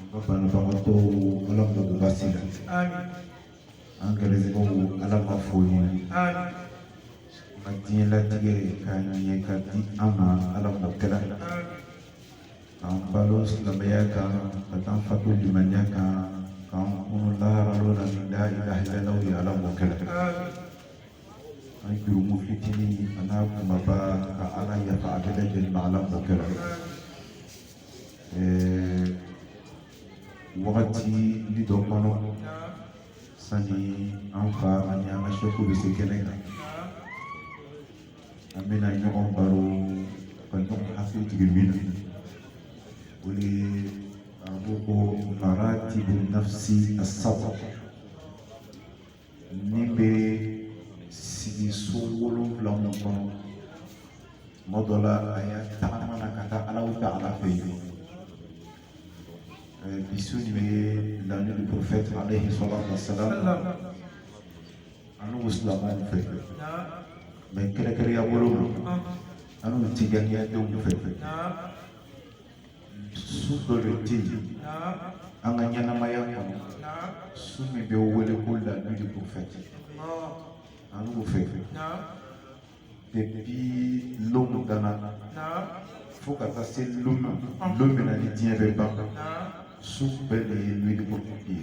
An ka banabagatɔ ala m'o basi la an gɛrɛsɛgɛw ala m'a foni an ma diɲɛ latigɛ ka ɲɛ ka di an ma ala m'o kɛra k'an balo silamɛya kan ka taa fatu limaniya kan k'an kunun lahara lon na ni la ilaha illallah ye ala m'o kɛra an jurumu fitinin a n'a kumaba ka ala yafa a bɛɛ lajɛlen ma ala m'o kɛra Ɛɛ wagati ni dɔ kɔnɔ sani an fa ani an ka seku bɛ se kɛnɛ kan an bɛna ɲɔgɔn baro ka ɲɔgɔn hakili jigin min na o ye arabu ko maratibu nafsi assaba ni bɛ sigi so wolonwula min kɔnɔ tuma dɔ la a ya tagama na ka taa alahu ta'ala fɛ yen bi su nin bɛ la nuit du prophète alayhi salatu wa salam annu silamɛw fɛ mais kɛrɛnkɛrɛnya bolo ma annu tijaniyadenw fɛ su dɔ de tɛ yen an ka ɲɛnamaya kɔnɔ su min bɛ wele ko la nuit du prophète an b'o fɛ depuis lon dana fo ka taa se lon ma lon min na ni diɲɛ bɛ ban su bɛɛ de ye nuit du prophète ye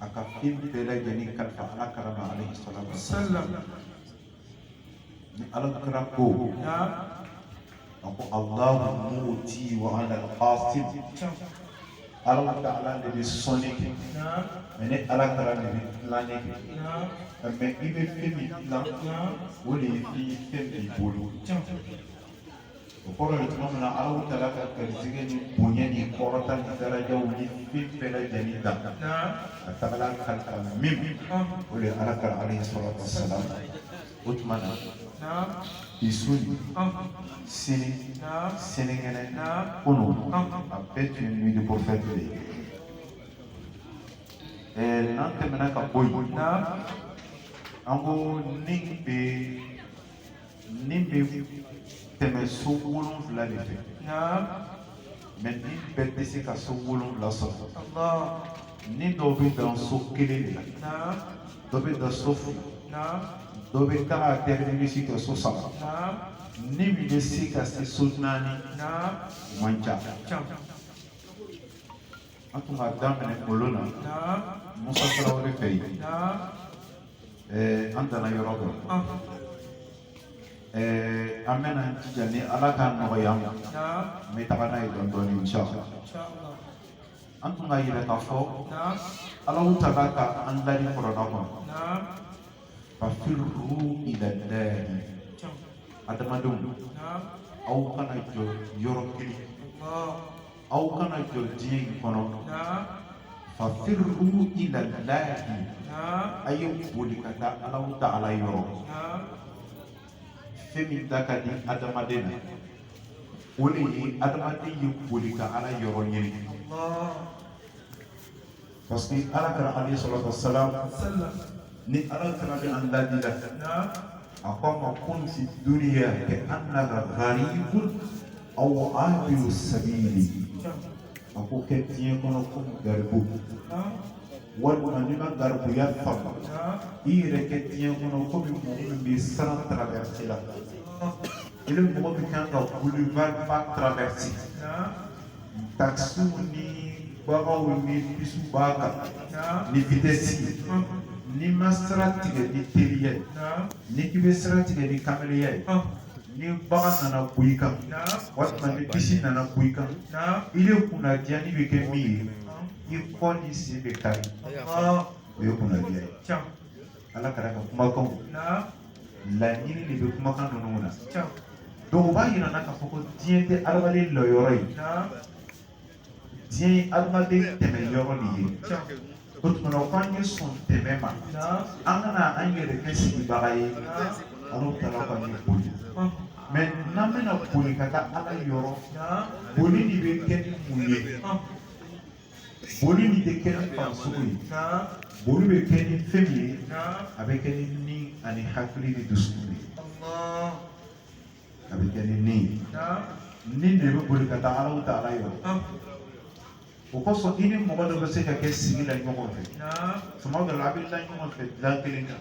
a ka fɛn bɛɛ lajɛlen kalifa ala kira ma alayhi salatu wa salam ni ala kira ko a ko alahu muti wa ana qasim ala ta'ala de bɛ sɔnni kɛ mɛ ni ala kira de bɛ tilanni kɛ mɛ i bɛ fɛn min tilan o de ye fɛn b'i bolo o kɔrɔ ye tuma min na alahu ta'ala ka garijɛgɛ ni bonya ni kɔrɔta ni darajaw ni fɛn bɛɛ lajɛlen da a tagala kalifa min o de ye ala kira alayhi salatu wa salam o tuma na bi su in sini sininkɛnɛ kunu a bɛɛ tun ye nuit du prophète de ye ɛɛ n'an tɛmɛna ka bɔ yen an ko ni bɛ Ni bɛ tɛmɛ so wolonwula de fɛ. Naam. Mɛ ni bɛɛ tɛ se ka so wolonwula sɔrɔ. Allah. Ni dɔw bɛ dan so kelen de la. Naam. Dɔ bɛ dan so fila. Naam. Dɔ bɛ taga terminus kɛ so saba. Naam. Ni min bɛ se ka se so naani. Naam. Man ca. Ca. An tun k'a daminɛ kunun na. Naam. Musa Traore fɛ yen. Naam. Eh, an danna yɔrɔ dɔ. Ah. Eh, an bɛna jija ni Ala ka nɔgɔya ma. Naam. N bɛ taga n'a ye dɔɔni dɔɔni inshallah. Inshallah. An tun k'a yira k'a fɔ. Naam. Allahu Ta'ala ka an ladi Kurana kɔnɔ. Naam. Fafirru ila llahi. Adamadenw. Naam. Aw kana jɔ yɔrɔ kelen. Allah. aw kana jɔ diɲɛ in kɔnɔ fafirru ila llahi a ye boli ka taa allahu ta'ala yɔrɔ fɛn min da ka di adamaden na o de ye adamaden ye boli ka ala yɔrɔ ɲini parce que ala kira alayhi salatu wassalam ni ale fana bɛ an ladi la a ko an ma kun fi duniya ka'annaka gharibun aw abiru sabili a ko kɛ diɲɛ kɔnɔ komi garibu walima n'i ma garibuya faamu i yɛrɛ kɛ diɲɛ kɔnɔ komi mɔgɔ min bɛ sira traverser la ile mɔgɔ min kan ka boulevard ba traverser takisiw ni gbakaw ni bisiw b'a kan ni vitɛsi ye n'i ma sira tigɛ ni teliya ye n'i k'i bɛ sira tigɛ ni kamalenya ye ni gbaka nana bɔ i kan walima ni bisi nana bɔ i kan ile kunnadiya nin bɛ kɛ min ye i kɔ n'i sen bɛ kari o ye kunnadiya ye. ala kira ka kumakan laɲini de bɛ kumakan ninnu na donc o b'a yira an na k'a fɔ ko diɲɛ tɛ adamaden lɔyɔrɔ ye diɲɛ ye adamaden tɛmɛyɔrɔ de ye o tuma na f'an ye sɔn tɛmɛ ma an kana an yɛrɛ kɛ sigibaga ye allahu ta'ala k'an ye boli mais n'an bɛna boli ka taa ala yɔrɔ boli nin bɛ kɛ ni mun ye boli nin tɛ kɛ ni farisogo ye boli bɛ kɛ ni fɛn min ye a bɛ kɛ ni ni ani hakili ni dusukun de ye a bɛ kɛ ni ni ye ni de bɛ boli ka taa allahu ta'ala yɔrɔ o kosɔn i ni mɔgɔ dɔ bɛ se ka kɛ sigi la ɲɔgɔn fɛ tuma dɔ la a bɛ la ɲɔgɔn fɛ dilan kelen kan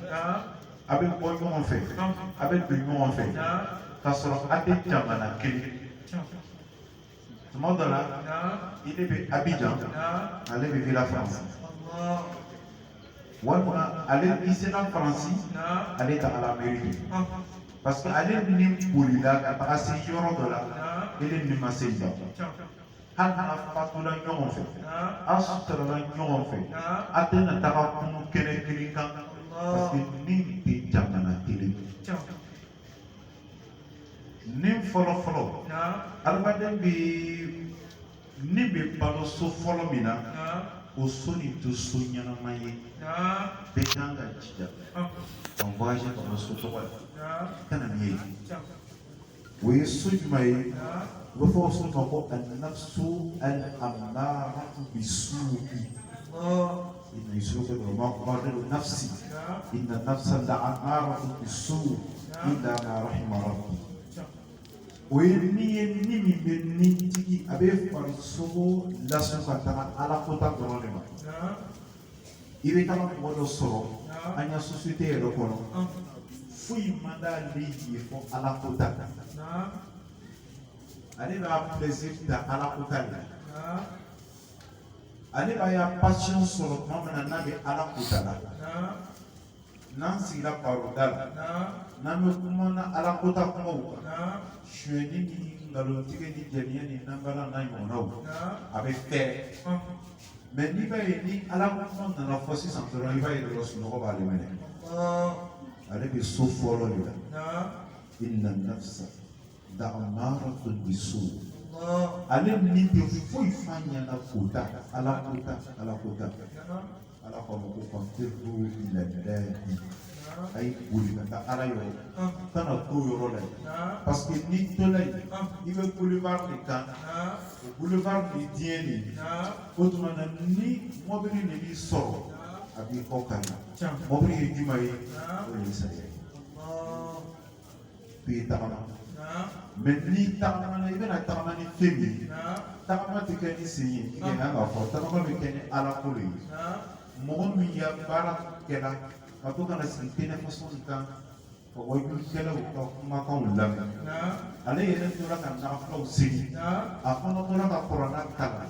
a bɛ bɔ ɲɔgɔn fɛ a bɛ don ɲɔgɔn fɛ k'a sɔrɔ a tɛ jamana kelen tuma dɔ la ile bɛ Abidjan ale bɛ fo la France walima ale i sera Faransi ale tagara Ameriki parce que ale ni bolila ka taga se yɔrɔ dɔ la ile ni ma se yen hali n'a fatula ɲɔgɔn fɛ a suturala ɲɔgɔn fɛ a tɛna taga kunu kɛnɛ kelen kan parce que ni tɛ jamana kelen ni fɔlɔ fɔlɔ adamaden bɛ ni bɛ balo so fɔlɔ min na o so nin tɛ so ɲɛnama ye bɛɛ kan ka jija ka voyage ka bɔ so tɔgɔ la ka na ni ye o ye so jumɛn ye u bɛ fɔ o so ma ko an nafsu al amaratu bi suuki Yusufu ko ma ubarri'u nafsi inna nafsa la'amaratun bisu illa ma rahima rabbi o ye ni ye ni min bɛ nitigi a bɛ farisogo lasun ka taga ala kota dɔrɔn de ma i bɛ taga mɔgɔ dɔ sɔrɔ an ya sosiyete yɛrɛ kɔnɔ foyi man d'ale ye fo ala kota kan ale b'a plaisir ta ala kota de la ale b'a ya passion sɔrɔ tuma min na n'a bɛ Ala kota la, naamu, n'an sigira baroda la, naamu, n'an bɛ kuma na Ala kota kumaw kan, naamu, sonyɛni ni nkalontigɛ ni jɛniya ni nanbala n'a ɲɔgɔnnaw, naamu, a bɛ fɛɛrɛ ɔhɔn, mais n'i b'a ye ni Ala kuma nana fɔ sisan dɔrɔn i b'a ye dɔrɔn sunɔgɔ b'ale minɛ ɔhɔn, ale bɛ so fɔlɔ de la naamu, inna nafsa la'amaratun bisu ale ni tɛ foyi f'a ɲɛna kota ala kota ala kota ala k'a ma ko fafirru ila llahi a ye boli ka taa ala yɔrɔ kana to yɔrɔ la yen parce que n'i tola yen i bɛ boulevard de kan o boulevard de diɲɛ de ye o tuma na ni mɔbili de b'i sɔrɔ a b'i kɔ kari mɔbili ye jumɛn ye o ye saya ye. k'i ye tagama mais n'i tagamana i bɛna tagama ni fɛn min ye tagama tɛ kɛ ni sen ye i kan k'a fɔ tagama bɛ kɛ ni ala ko de ye mɔgɔ min ya baara kɛra ka to ka na sigi téléphone kan ka wajulikɛlaw ka kumakanw lamɛn ale yɛrɛ tora ka nafilaw seli a fana tora ka kurana kalan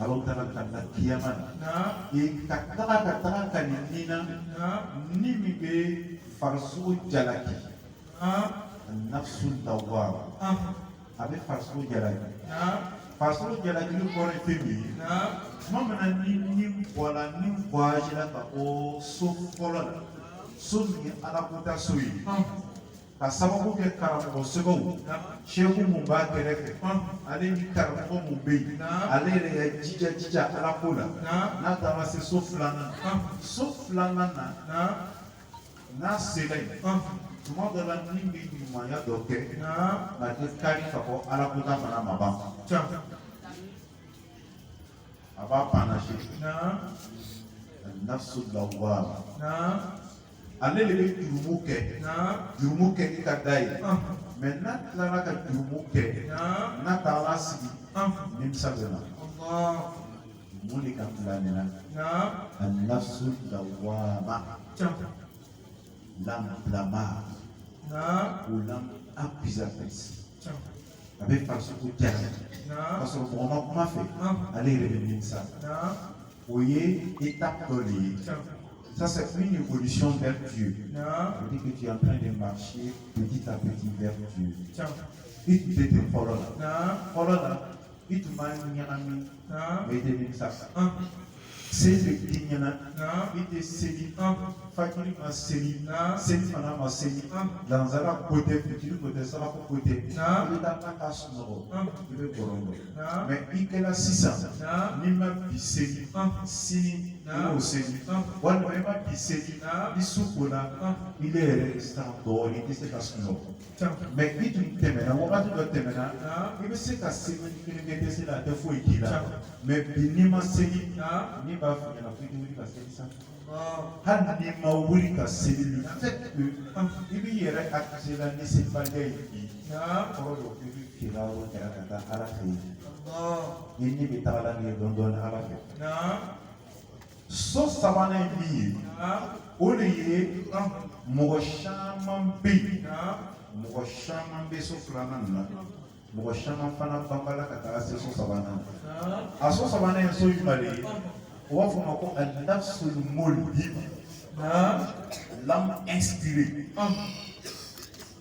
Alahu taala kanna kiyama na ka taga ka taga kali ni na ni min bɛ farisogo jalaki nafsu lawwama a bɛ farisogo jalaki farisogo jalakili kɔrɔ ye fɛn min ye tuma min na ni ni bɔra ni voyagera ka bɔ so fɔlɔ la so min ye ala kota so ye ka sababu kɛ karamɔgɔ sɛbɛw sɛku mun b'a kɛrɛfɛ ale ni karamɔgɔ mun bɛ yen ale yɛrɛ ya jija jija ala ko la n'a taara se so filanan so filanan na n'a sera yen tuma dɔ la ni bɛ ɲumanya dɔ kɛ nka a tɛ kari ka bɔ ala kota fana ma ban a b'a panacher an nafsu lawwama ale de bɛ jurumu kɛ i ka da ye mais n'a tilara ka jurumu kɛ n'a taara sigi nimisa bɛ na mun de ka n bila nin na an-nafsu lawwama l'âme blâmante ou l'âme accusatrice a bɛ farisogo jara k'a sɔrɔ mɔgɔ ma kuma a fɛ ale yɛrɛ bɛ nimisa o ye étape dɔ de ye Ça, c'est une évolution vers Dieu. On dit que tu es en train de marcher petit à petit vers Dieu. I tun tɛ ten fɔlɔ la fɔlɔ la i tun b'a ɲagami mais i tɛ nimisa Seli bɛ tiɲɛna i tɛ seli fajiri ma seli selifana ma seli lansara ko tɛ fitiri ko tɛ saafo ko tɛ i bɛ taa ka sunɔgɔ i bɛ gɔrɔn bɔ mais i kɛra sisan n'i ma bi seli sini i seli walima i ma bi seli i su ko la i bɛ yɛrɛ san dɔɔnin i tɛ se ka sunɔgɔ mais i tun tɛmɛna wagati dɔ tɛmɛna i bɛ se ka seli kelen kɛ tɛ se la a tɛ foyi k'i la mais bi n'i ma seli ne b'a fɔ i ɲɛna f'i wuli ka seli sa hali n'i ma wuli ka seli mais i b'i yɛrɛ accuser la ni selibaliya ye bi kɔrɔ dɔ i bɛ kira o kɛra ka taa ala fɛ yen ni ne bɛ taga la nin ye dɔɔnin dɔɔnin ala fɛ so sabanan ye min ye o de ye mɔgɔ caman bɛ yen mɔgɔ caman bɛ so filanan na mɔgɔ caman fana banbala ka taa se so sabanan a so sabanan ye so jumɛn de ye u b'a fɔ o ma ko an-nafsul mulhima l'âme inspirée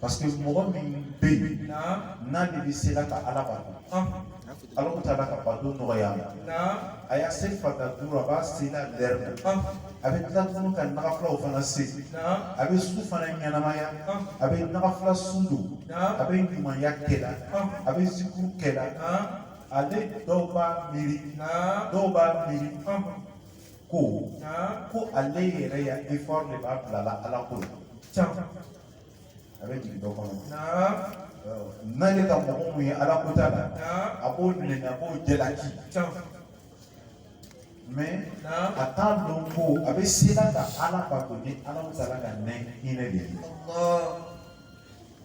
parce que mɔgɔ min bɛ yen n'ale bɛ se la ka ala bato alahu taala ka bato nɔgɔya a ye seli fata duuru a b'a seli a lɛrɛ a bɛ tila tuguni ka nagafilaw fana seli a bɛ su fana ɲɛnamaya a bɛ nagafila sun don a bɛ ɲumanya kɛ la a bɛ zikuru kɛ la ale dɔw b'a miiri dɔw b'a miiri ko ko ale yɛrɛ ya effort de b'a bila la ala ko la n'ale ka mɔgɔ min ye ala ko t'a la a b'o nɛni a b'o jalaki mais a t'a dɔn ko a bɛ sela ka ala bato ni alahu taala ka nɛ hinɛ de ye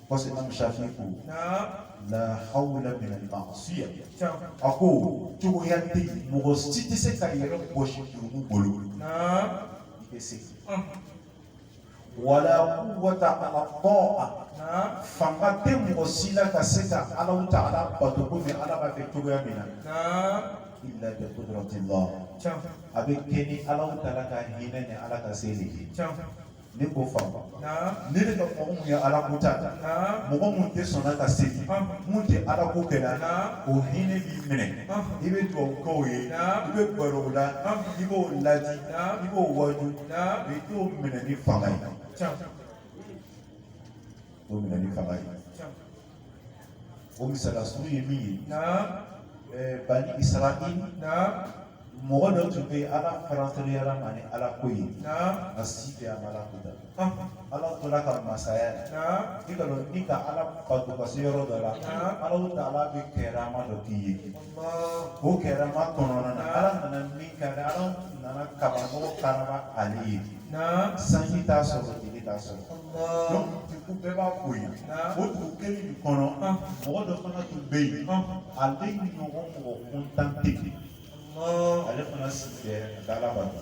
parce que imam shafi ko la hawla min al-ma'siya a ko cogoya tɛ yen mɔgɔ si tɛ se ka yɛrɛ bɔsi jurumu bolo i bɛ se wala quwwata ala ta'a fanga tɛ mɔgɔ si la ka se ka Alahu Taala bato komi Ala b'a fɛ cogoya min na illa bi qudratillah a bɛ kɛ ni Alahu Taala ka hinɛ ni Ala ka se de ye n'i k'o faamu n'ile ka mɔgɔ mun ye ala ko ta mɔgɔ mun tɛ sɔnna ka seli mun tɛ ala ko kɛ la o hinɛ b'i minɛ i bɛ dugawu k'o ye i bɛ gɛrɛ o la i b'o laadi i b'o waaju i t'o minɛ ni fanga ye o minɛ ni fanga ye o misala surun ye min ye ɛɛ bani Israil mɔgɔ dɔ tun bɛ yen ala farantoriyara ma ni ala ko ye a si bɛ a ma ala ko da ala tora ka masaya i k'a dɔn n'i ka ala bato ka se yɔrɔ dɔ la ala taala bɛ karama dɔ k'i ye o karama kɔnɔna na ala nana min kɛ ala nana kabanɔgɔ karaba ale ye sanji t'a sɔrɔ tile t'a sɔrɔ donc dugu bɛɛ b'a ko ye o dugu kelen nin kɔnɔ mɔgɔ dɔ fana tun bɛ yen ale ɲɔgɔn mɔgɔ kuntan tɛ ale fana sigi bɛ dalabato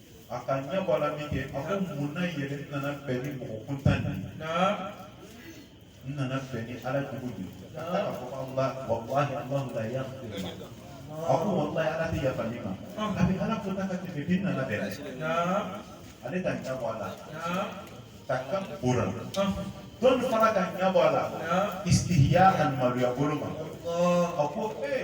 a ka ɲɛ bɔ a la min kɛ a ko mun na yɛrɛ n nana bɛn ni mɔgɔ kuntan de ye n nana bɛn ni ala jugu de ye a taara k'a fɔ ko ala walahi alahu la yaghfir ma a ko walahi ala tɛ yafa nin ma a bɛ ala kota ka tɛmɛ den nana bɛn ale ka ɲɛ bɔ a la takabburan dɔ fana ka ɲɛ bɔ a la istihya'an maloya bolo ma a ko ee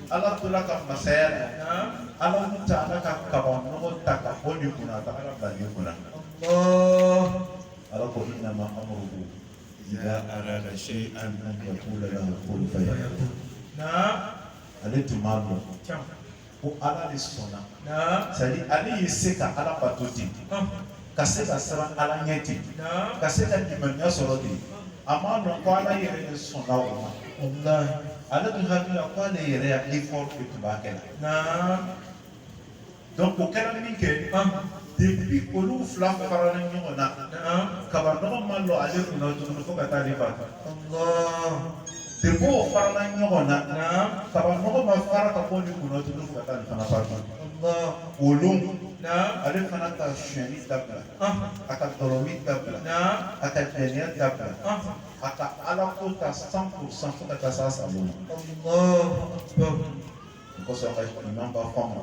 ala tora ka masaya la ala taala ka kabanɔgɔ ta ka bɔ nin kunna ka taa a bila nin kunna ala ko innama amruhu idha arada shay'an an yaqula lahu kun fayakun ale tun b'a dɔn ko ala de sɔnna c'est-à-dire ale ye se ka ala bato ten ka se ka siran ala ɲɛ ten ka se ka limaniya sɔrɔ ten a m'a dɔn ko ala yɛrɛ de sɔnna o ma ale tun hakili la ko ale yɛrɛ ya effort de tun b'a kɛ la donc o kɛra min kɛ depuis olu fila farala ɲɔgɔn na kabanɔgɔ ma lɔ ale kunna tuguni fo ka taa ale ba depuis o farala ɲɔgɔn na kabanɔgɔ ma fara ka bɔ nin kunna tun ka taa fana fara olu ale fana ka sonyali dabila a ka dɔlɔmin dabila a ka jɛnɛya dabila a ka ala ko ta cent pour cent fo ka taa sa o kosɔn ka ɲuman b'a fɔ ma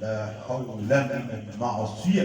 la hawla min ma'asiya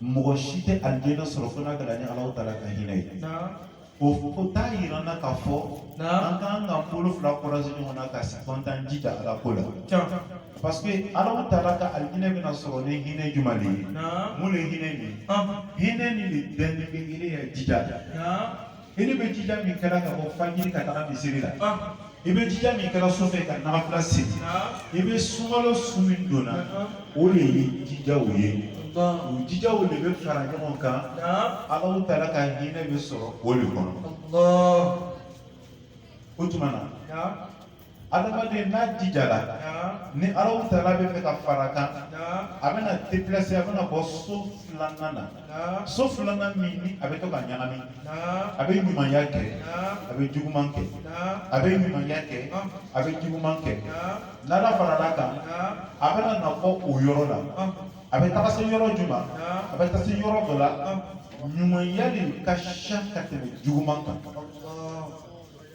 mɔgɔ si tɛ alijinɛ sɔrɔ fo n'a kɛra ni Alahu taala ka hinɛ ye o t'a yira n na k'a fɔ an k'an ka bolo fila croiser ɲɔgɔn na ka sigi an t'an jija ala ko la parce que Alahu taala ka alijinɛ bɛna sɔrɔ ni hinɛ jumɛn de ye mun de ye hinɛ nin ye hinɛ nin de bɛnnen bɛ i yɛrɛ ya jija i ni bɛ jija min kɛra ka bɔ fajiri ka taga misiri la i bɛ jija min kɛra su fɛ ka nafila seli i bɛ sunkalo sun min donna o de ye jijaw ye o jijaw de bɛ fara ɲɔgɔn kan Alahu taala ka hinɛ bɛ sɔrɔ o de kɔnɔ o tuma na adamaden n'a jijara ni Alahu taala bɛ fɛ ka fara kan a bɛna déplacer a bɛna bɔ so filanan na so filanan min ni a bɛ to ka ɲagami a bɛ ɲumanya kɛ a bɛ juguman kɛ a bɛ ɲumanya kɛ a bɛ juguman kɛ n'ala farala kan a bɛna na bɔ o yɔrɔ la a bɛ taga se yɔrɔ jumɛn a bɛ taa se yɔrɔ dɔ la ɲumanya de ka ca ka tɛmɛ juguman kan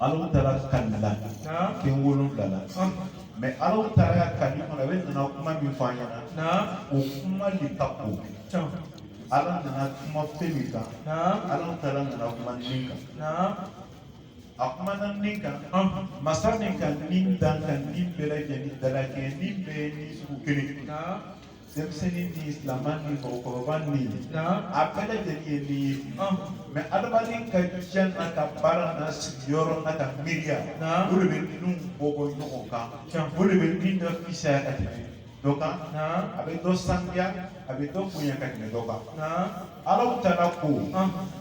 Alahu taala kalila fɛn wolonwula la mais Alahu taala ka kali kɔnɔ a bɛ nana kuma min fɔ an ɲɛna o kuma de ka ko ala nana kuma fɛn min kan Alahu taala nana kuma ni kan a kumana ni kan masa ni kan ni dan kan ni bɛɛ lajɛlen dalakɛ ni bɛɛ ni sugu kelen denmisɛnnin ni silamɛ ni mɔgɔkɔrɔba ni a bɛɛ lajɛlen ye ni ye mais adamaden ka diɲɛ n'a ka baara n'a sigiyɔrɔ n'a ka miiriya o de bɛ ninnu bɔ bɔ ɲɔgɔn kan o de bɛ ni dɔ fisaya ka tɛmɛ dɔ kan a bɛ dɔ sanuya a bɛ dɔ bonya ka tɛmɛ dɔ kan Alahu taala ko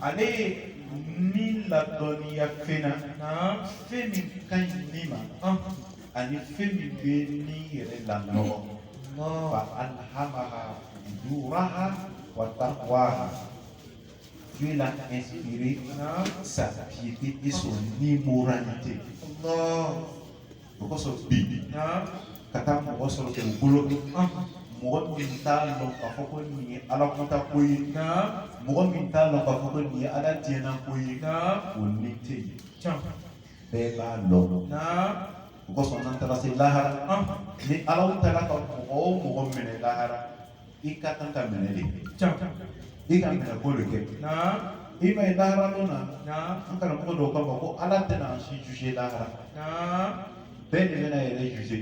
ale ye ni ladɔnniya fɛn na fɛn min ka ɲi ni ma ani fɛn min bɛ ni yɛrɛ lanɔgɔ fa alhamaha fujuraha wa taqwaha Dieu l'a inspiré sa piété et son immoralité. O kosɔn bi ka taa mɔgɔ sɔrɔ dugukolo mɔgɔ min t'a dɔn k'a fɔ ko nin ye ala kota ko ye mɔgɔ min t'a dɔn k'a fɔ ko nin ye ala diɲɛna ko ye o ni tɛ yen bɛɛ b'a dɔn o kosɔn n'an taara se lahara ni Alahu taala ka mɔgɔ o mɔgɔ minɛ lahara i ka kan ka minɛ de i ka minɛ ko de kɛ i m'a ye lahara don na an karamɔgɔ dɔw k'a fɔ ko ala tɛna an si juger lahara bɛɛ de bɛna yɛrɛ juger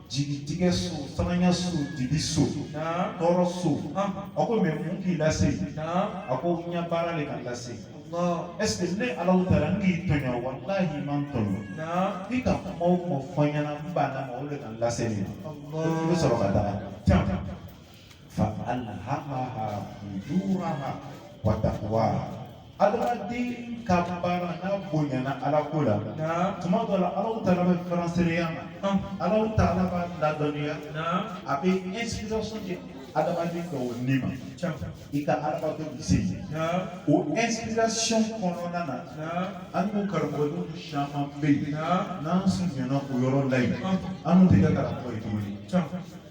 jigitigɛ so siranya so dibi so Naam. tɔɔrɔ so Ah. a ko mais mun k'i lase Naam. a ko n ya baara de ka n lase Allah. est ce que ne Alahu taala n k'i tɔɲɔ walahi i ma n tɔɲɔ Naam. i ka kuma o kuma fɔ n ɲɛna n banna ma o de ka n lase nin ma i bɛ Allah. sɔrɔ ka taa can faalhamaha fujuraha wa taqwaha adamaden ka baara n'a bonyana ala ko la tuma dɔ la alahu taala bɛ faransereya ma alahu taala b'a ladɔnniya a bɛ inspiration di adamaden dɔw ni ma i ka adamadenw se ye o inspiration kɔnɔna na an n'u karamɔgɔdenw caman bɛ yen n'an surunyana o yɔrɔ la yen an n'u tɛ kɛ karamɔgɔ ye tuguni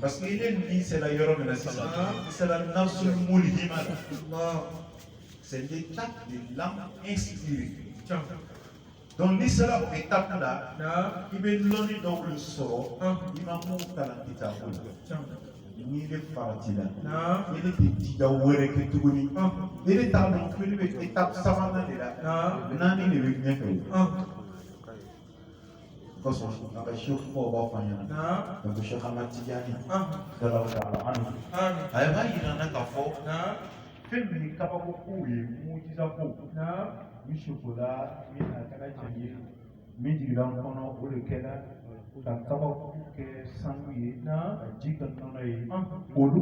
parce que ile n'i sera yɔrɔ min na sisan i sera nafsu mulhima la c'est l'état de l'âme inspirée donc n'i sera o étape la i bɛ lɔnni dɔw de sɔrɔ i ma min kalan kitabu la n'i bɛ farati la ile tɛ jija wɛrɛ kɛ tuguni ile t'a dɔn ko ne bɛ étape sabanan de la naani de bɛ ɲɛfɛ Kosɔn an ka shekhubaw b'a fɔ an ɲɛna ko shekh ahmad tijani radiyallahu ta'ala anhu a yɛrɛ b'a yira an na k'a fɔ fɛn min ye kabako kow ye mujiza ko min sukola min a kɛra jɛn ye min jigila n kɔnɔ o de kɛra ka kabakuru kɛ sanu ye ka ji kɛ nɔnɔ ye olu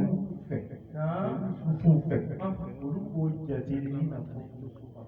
fɛ olu fɛ olu b'o jate i n'a fɔ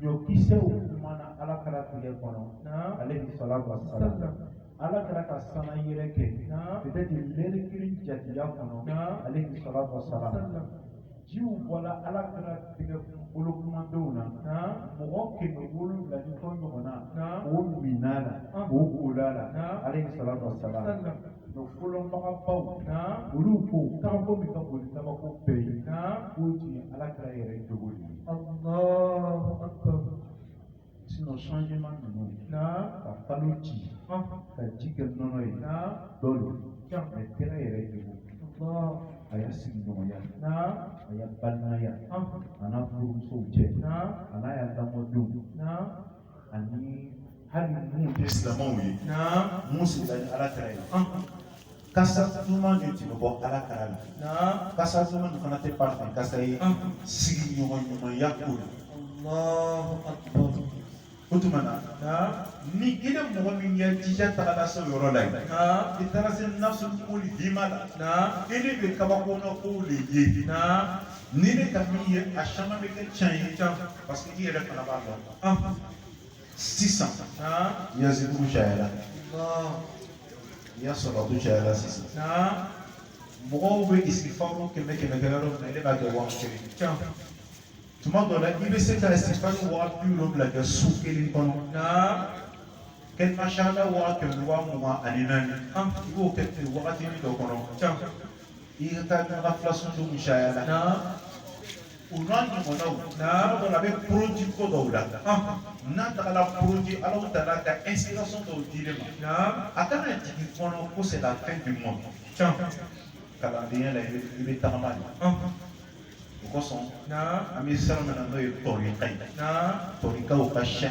ɲɔkisɛw kumana ala kira tɛgɛ kɔnɔ alayhi salatu wa salam ala kira ka sanna yɛlɛ kɛ peut-être lɛri kelen jatiya kɔnɔ alayhi salatu wa salam jiw bɔla ala kira tɛgɛ bolokumandenw na mɔgɔ kɛmɛ wolonwula ni kɔ ɲɔgɔnna o minna la o kola la alayhi salatu wa salam Donc fɔlɔ mɔgɔbaw olu ko kabako min ka bon ni kabako bɛɛ ye k'o tun ye ala kira yɛrɛ jogo ye sinon changement ninnu ka kalo ci ka ji kɛ nɔnɔ ye dɔw don mais kira yɛrɛ jogo a ya sigiɲɔgɔnya a ya balimaya a n'a furumusow cɛ a n'a ya lamɔdenw ani hali minnu tɛ silamɛw ye min sigila ni ala kira ye kasa duman de tun bɛ bɔ ala kira la kasa duman nin fana tɛ parfum kasa ye sigiɲɔgɔn ɲumanya ko la o tuma na ni ile mɔgɔ min ya jija tagala se o yɔrɔ la yen i taara se nafsu mulhima la ile bɛ kabakona kow de ye n'ile ka min ye a caman bɛ kɛ tiɲɛ ye parce que i yɛrɛ fana b'a dɔn sisan i ya zikiru cayara i ya salatu cayara sisan mɔgɔw bɛ istighfaru kɛmɛ kɛmɛ kɛ yɔrɔ min na e b'a kɛ waa kelen tuma dɔ la i bɛ se ka istighfaru waa bi wolonwula kɛ su kelen kɔnɔ kɛlima sahada waa kɛmɛ waa mugan ani naani i b'o kɛ ten wagati dɔ kɔnɔ i ka taa ɲaga filasun dun cayara o n'a ɲɔgɔnnaw tuma dɔ la a bɛ produit ko dɔw la n'a tagala produit alahu taala ka inspiration dɔw di ile ma a kana jigin i kɔnɔ ko c'est la fin du monde kalandenya la i bɛ tagama de o kosɔn an bɛ sira min na n'o ye tɔrika ye tɔrikaw ka sɛ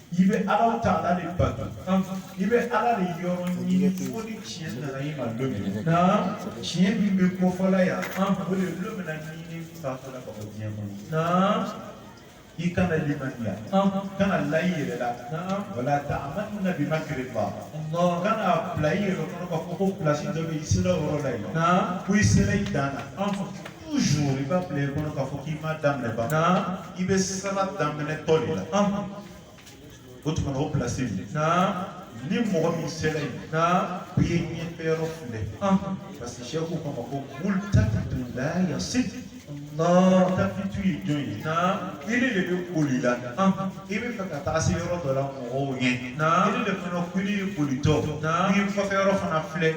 i bɛ alahu taala de bato i bɛ ala de yɔrɔ ɲini fo ni tiɲɛ nana i ma don min na tiɲɛ min bɛ kofɔla yan o de don min na n'i fatura ka bɔ diɲɛ kɔnɔ i kana limaniya kana la i yɛrɛ la wala ta'amanu bi makrillah kana bila i yɛrɛ kɔnɔ k'a fɔ ko place dɔ bɛ i sera o yɔrɔ la yen ko i sera i dan na toujours i b'a bila i kɔnɔ k'a fɔ k'i m'a daminɛ ban i bɛ sira daminɛtɔ de la o tuma na o place min ni mɔgɔ min sera yen i ye ɲɛfɛ yɔrɔ filɛ parce que sɛku k'an ma ko multafitu la yasil multafitu ye jɔn ye ile de bɛ boli la i bɛ fɛ ka taa se yɔrɔ dɔ la mɔgɔw ɲɛ ile de fana k'ile ye bolitɔ i ye kɔfɛ yɔrɔ fana filɛ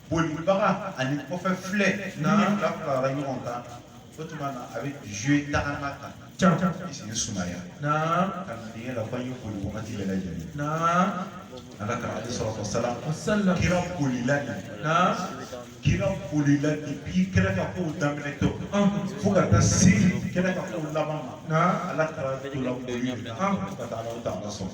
bolibaga ani kɔfɛ filɛ ni nin fila farala ɲɔgɔn kan o tuma na a bɛ jouer tagama kan i sen sumaya ka dingɛ la ko an ye boli wagati bɛɛ lajɛlen ala kira alayhi salatu wa salam kira bolila de kira bolila depuis kira ka kow daminɛ tɔ fo ka taa se kira ka kow laban ma ala kira tola boli ka taa alahu taala sɔrɔ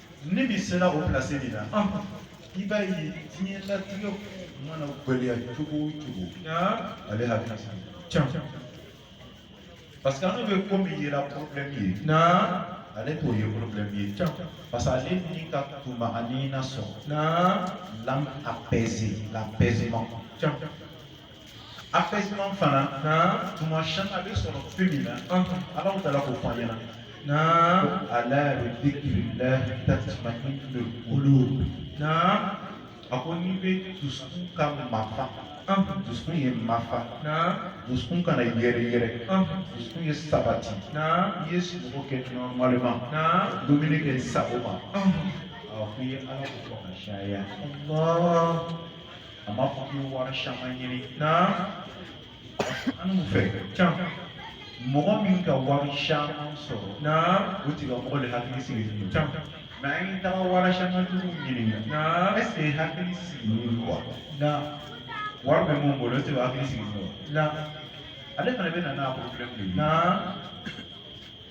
ni min sera o place nin na i b'a ye diɲɛ latigɛ mana gɛlɛya cogo o cogo ale hakili can parce que an bɛ ko min yera problème ye ale t'o ye problème ye parce que ale ni ka tuma'anina sɔrɔ l'âme apaisée l'apaisement apaisement fana tuma caman a bɛ sɔrɔ fɛn min na alahu taala k'o fɔ an ɲɛna naam ala bi dhikrillah tatma'innul qulub naam a ko n'i bɛ dusukun ka mafa dusukun ye mafa dusukun kana yɛrɛ yɛrɛ dusukun ye sabati i ye sunɔgɔ kɛ normalement dumuni kɛ sago ma a ko i ye ala ko fɔ ka caya a m'a fɔ k'u bi wari caman ɲini na an n'u fɛ can mɔgɔ min ka wari caman sɔrɔ na o tigilamɔgɔ le hakili sigilen don can mais an ye taga wari caman tigiw ɲininka na est-ce que e hakili sigilen don wa na wari bɛ min bolo e de hakili sigilen don wa na ale fana bɛ na n'a problème de ye na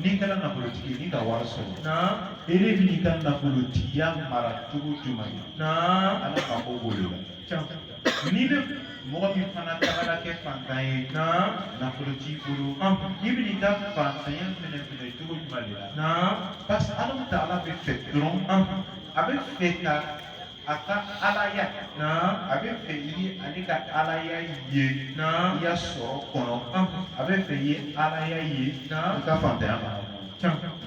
N'i kɛla nafolotigi n'i ka wari sɔrɔ i bɛn'i ka nafolotigiya mara cogo jumɛn ye ala ka ko b'o de la n'i bɛ mɔgɔ min fana tagara kɛ fantan ye nafolo t'i bolo i bɛn'i ka fantanya fɛnɛ minɛ cogo jumɛn de la parce que ala taala bɛ fɛ dɔrɔn a bɛ fɛ ka a ka alaya a bɛ fɛ i ye ale ka alaya ye i ya sɔrɔ kɔnɔ a bɛ fɛ i ye alaya ye i ka fantanya ma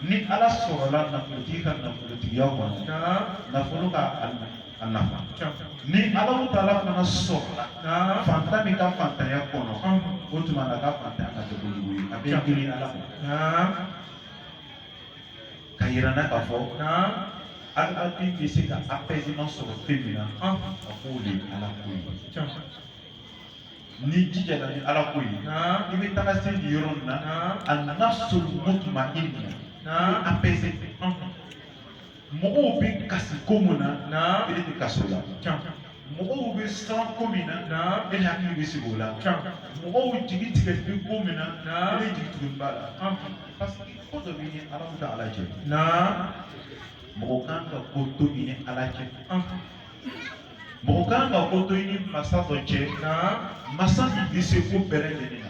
ni ala sɔrɔla nafolotigi ka nafolotigiya kɔnɔ nafolo ka a nafa ni ala taala fana sɔrɔla fantan min ka fantanya kɔnɔ o tuma na ka fantanya ka kɛ kojugu ye a bɛ girin ala ma k'a yira an na k'a fɔ adamaden bɛ se ka apaisement sɔrɔ fɛn min na a k'o de ye ala ko ye n'i jijala ni ala ko ye i bɛ taga se nin yɔrɔ nin na an-nafsul mutma'inna apaisé mɔgɔw bɛ kasi ko min na e de tɛ kasi o la mɔgɔw bɛ siran ko min na e hakili bɛ sigi o la mɔgɔw jigi tigɛ bɛ ko min na e jigi tugu b'a la parce que ko dɔ b'i ni ala taala cɛ mɔgɔ kan ka ko to i ni ala cɛ mɔgɔ kan ka ko to i ni masa dɔ cɛ masa min bɛ se ko bɛɛ lajɛlen na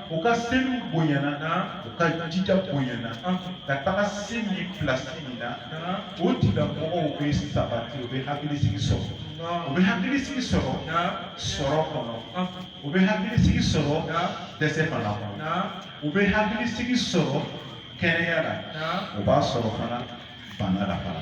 u ka seliw bonyana na u ka jija bonyana ka taga se nin pilasi nin na o tigilamɔgɔw bɛ sabati u bɛ hakilisigi sɔrɔ u bɛ hakilisigi sɔrɔ sɔrɔ kɔnɔ u bɛ hakilisigi sɔrɔ dɛsɛ fana kɔnɔ u bɛ hakilisigi sɔrɔ kɛnɛya la u b'a sɔrɔ fana bana la fana.